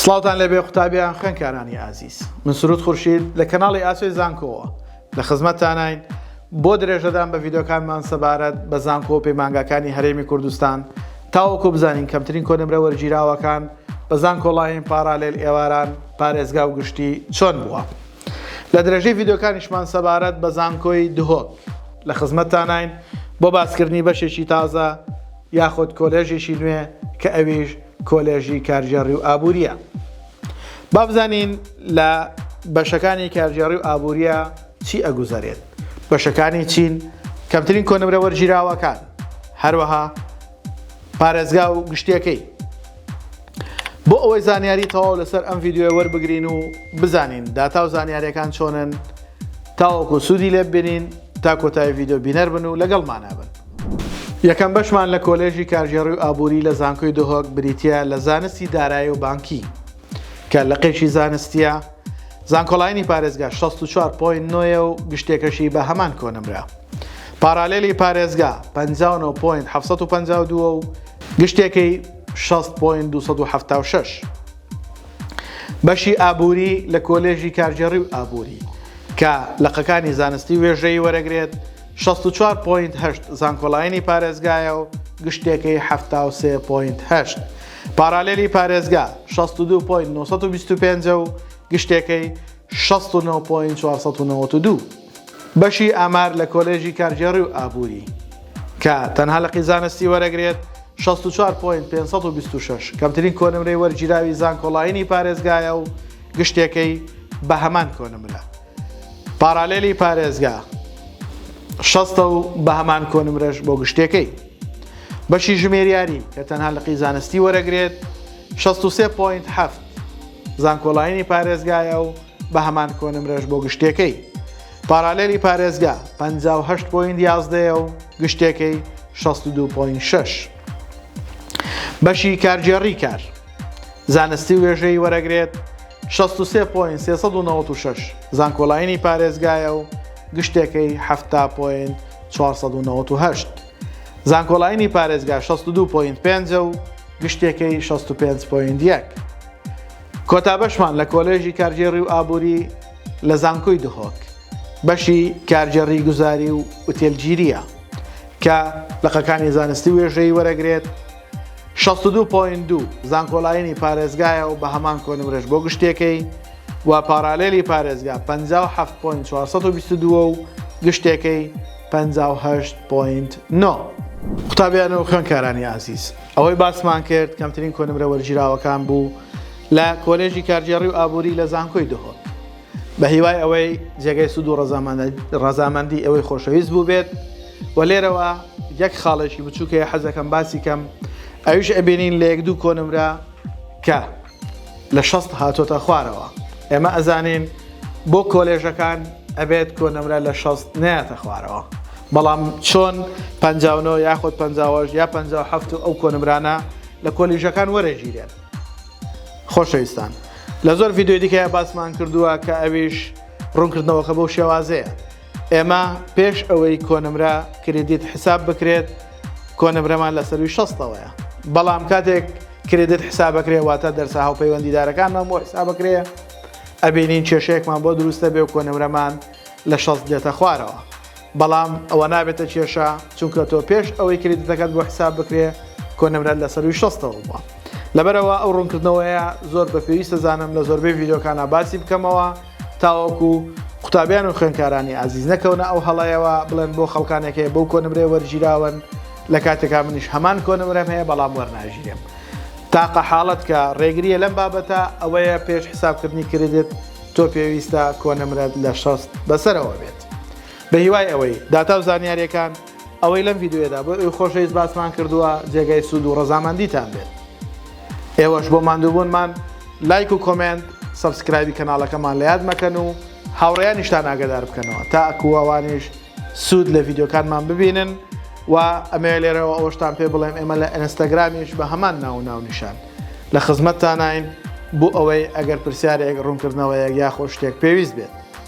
سڵاوتان لێبێ قوتابیان خوێنکارانی ئازیز من سرود خورشید لە کەناڵی ئاسۆی زانکۆوە لە خزمەتتانین بۆ درێژەدان بە ڤیددیوکانمان سەبارەت بە زانکۆ و پەیمانگاکانی هەرێمی کوردستان تاوەکو بزانین کەمترین کۆنمرە وەرگیراوەکان بە زانکۆڵاین پاراالێل ئێواران پارێزگا و گشتی چۆن بووە لە درێژەی ڤیددیوکانیشمان سەبارەت بە زانکۆی دهۆک لە خزمەتتانین بۆ باسکردنی بەشێکی تازە یاخود کۆلێژێکی نوێ کە ئەویش کۆلێژی کارگێڕی و ئابوورییە. با بزانین لە بەشەکانی کارگێڕی و ئابوورییە چی ئەگوزەرێت؟ بەشەکانی چین؟ کەمترین کۆنمرە وەرگیراوەکان، هەروەها پارێزگا و گشتیەکەی. بۆ ئەوەی زانیاری تەواو لەسەر ئەم ڤیدیۆیە وەربگرین و بزانین داتا و زانیاریەکان چۆنن تاوەکو سوودی لێببینین تا کۆتایی ڤیدیۆ بینەر بن و لەگەڵمانە بن. یەکەم بەشمان لە کۆلێژی کارگێڕی و ئابووری لە زانکۆی دهۆک بریتییە لە زانستی دارایی و بانکی کە لقێکی زانستییە، زانکۆلاینی پارێزگا شەست و چوار پۆینت نۆ یە و گشتێکەشی بە هەمان کۆنمرە. پارالێلی پارێزگا پەنجا و نۆ پۆینت حەفت سەد و پەنجا و دوو ە و گشتێکەی شەست پۆینت دوو سەد و حەفتا و شەش. بەشی ئابووری لە کۆلێژی کارگێڕی و ئابووری کە لقەکانی زانستی وێژەیی وەرەگرێت، شەست و چوار پۆینت هەشت زانکۆلاینی پارێزگایە و گشتێکەی حەفتا و سێ پۆینت هەشت پارالێلی پارێزگا شەست و دوو پۆینت نۆ سەد و بیست و پێنج و گشتێکەی شەست و نۆ پۆینت چوار سەد و نەوەد و دوو بەشی ئامار لە کۆلێژی کارگێڕی و ئابووری کە تەنها لقی زانستی وەرەگرێت شەست و چوار پۆینت پێنج سەد و بیست و شەش کەمترین کۆنمرەی وەرگیراوی زانکۆلاینی پارێزگایە و گشتێکەی بە هەمان کۆنمرە پارالێلی پارێزگا شەستە و بە هەمان کۆنمرەش بۆ گشتێکەی بەشی ژمێریاری کە تەنها لقی زانستی وەرەگرێت 63.7 زانکۆڵینی پارێزگایە و بە هەمان کۆنمرەش بۆ گشتێکەی پارالێلی پارێزگا 58.11 و گشتێکەی 62.6 بەشی کارگێڕی کار زانستی وێژەی وەرەگرێت شەست و سێ پۆینت سێ سەد و نەوەد و شەش زانکۆلاینی پارێزگایە و گشتێکەی حەفتا پۆینت چوار سەد و نەوەد و هەشت. زانکۆلاینی پارێزگا شەست و دوو پۆینت پێنج ە و گشتێکەی شەست و پێنج پۆینت یەک. کۆتا بەشمان لە کۆلێژی کارگێڕی و ئابووری لە زانکۆی دهۆک بەشی کارگێڕی گوزاری و ئوتێلگیرییە کە لقەکانی زانستی وێژەیی وەرەگرێت، شەست و دوو پۆینت دوو زانکۆلاینی پارێزگایە و بە هەمان کۆنمرەش بۆ گشتێکەی و پاراڵێلی پارێزگا پەنجا و حەفت پۆینت چوار سەد و بیست و دوو و گشتێکەی پەنجا و هەشت پۆینت نۆ. قوتابیان و خوێندکارانی ئازیز، ئەوەی باسمان کرد کەمترین کۆنمرە وەرگیراوەکان بوو لە کۆلێژی کارگێڕی و ئابووری لە زانکۆی دهۆک. بە هیوای ئەوەی جێگەی سوود و ڕەزامەندی ئەوەی خۆشەویست بوو بێت و لێرەوە یەک خاڵێکی بچووکەیە حەزەکەم باسی کەم ئەویش ئەبینین لە یەک دوو کۆنمرە کە لە شەست هاتۆتە خوارەوە ئێمە ئەزانین بۆ کۆلێژەکان ئەبێت کۆنمرە لە شەست نەیەتە خوارەوە بەڵام چۆن پ یاخود پ یا پ ئەو کۆنمرانە لە کۆلیژەکان وەرەگیرێن خۆشەویستان لە زۆر ڤیددیۆی دیکەیە باسمان کردووە کە ئەویش ڕوونکردنەوەکە بەو شێوازەیە ئێمە پێش ئەوەی کۆنمرە کردیت حساب بکرێت کۆنمرەمان لە سەروی شەستەوەیە بەڵام کاتێک کردێت حسابەکرێ واتە دەرسە هاوپەیوەندیدارەکانمان بۆ حسابەکرێ ئەبینین کێشەیەکمان بۆ دروستە بێ و کۆنمرەمان لە شەست دێتە خوارەوە بەڵام ئەوە نابێتە کێشە چونکە تۆ پێش ئەوەی کریدتەکەت بۆ حساب بکرێ کۆنمرەت لە سەروی شەستەوە بووە لەبەرەوە ئەو ڕوونکردنەوەیە زۆر بە پێویستە زانم لە زۆربەی ڤیددیوکانە باسی بکەمەوە تاوەکو قوتابیان و خوێنکارانی ئازیز نەکەونە ئەو هەڵەیەوە بڵێن بۆ خەڵکانێکەیە بەو کۆنمرێ وەرگیراون لە کاتێکا منیش هەمان کۆنمرەم هەیە بەڵام وەرناژیرێم تاقە حاڵەت کە ڕێگریە لەم بابەتە ئەوەیە پێش حسابکردنی کردێت تۆ پێویستە کۆنمرەت لە شەست بەسەرەوە بێت. بەهیوای ئەوەی داتا و زانیاریەکان ئەوەی لەم ڤیددیوێدا بۆ ئەوی خۆشەویست باسمان کردووە جێگای سوود و ڕەزامەندیتان بێت ئێوەش بۆ ماندووبوونمان لایک و کۆمنت سبسکرایبی کەناڵەکەمان لە یاد مەکەن و هاوڕێیانیشتان ئاگدار بکەنەوە تا ئەکووەوانیش سوود لە ڤیددیوکانمان ببینن و ئەمەوێ لێرەوە ئەوەشتان پێ بڵێم ئێمە لە ئەنستاگرامیش بە هەمان ناو و ناونیشان لە خزمەتتانین بۆ ئەوەی ئەگەر پرسیارێک ڕوونکردنەوەیەک یاخۆ شتێک پێویست بێت